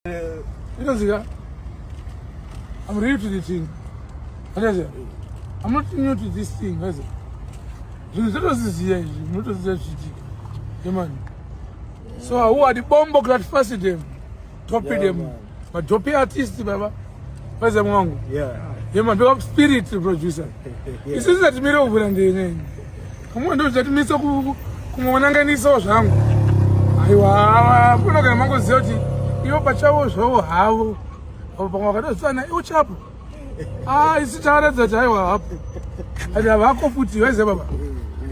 Eh, inozika I'm real to the thing. Akazi, I'm not new to this thing. Akazi, zvinhu zvatoziziya izvi, munotoziya zvichiitika. Yemani. So, who are the bombo clad fasted them? Topped them. But topped artists, baba. What's up, Mwangu? Yeah. Yeah, my big spirit producer. yeah. This is that mirror over and then. Come on, don't let me so kumonanganisawo zvangu. Aiwa, kuna kana mango zoti ivo pachavo zvavo havo. Apo pamwe vakatosana iwo chapo. Ah, isi taratidza kuti aiwa hapo. Ati havako futi, waize baba.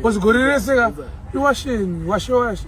Wazigorerese ka. Iwasheni, washe washe.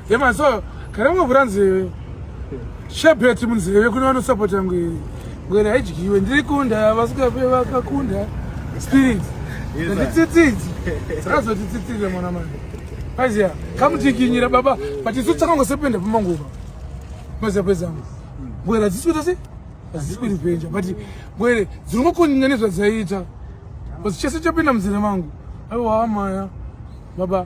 Yema so kana mwe kuranzi shebet munzeve kune vano support yangu iri. Ngwere haidyiwe ndiri kunda vasuka pe vakakunda spirit. Nditsitsidzi. Saka zoti tsitsire mwana manje. Paziya kamutikinyira baba but isu takango sependa pamanguva. Paziya pezangu. Ngwere dzisuta se? Dzisipiri penja but ngwere dzirimo kunyanya nezvadzaita. Basi chese chapinda munzeve mangu. Aiwa maya. Baba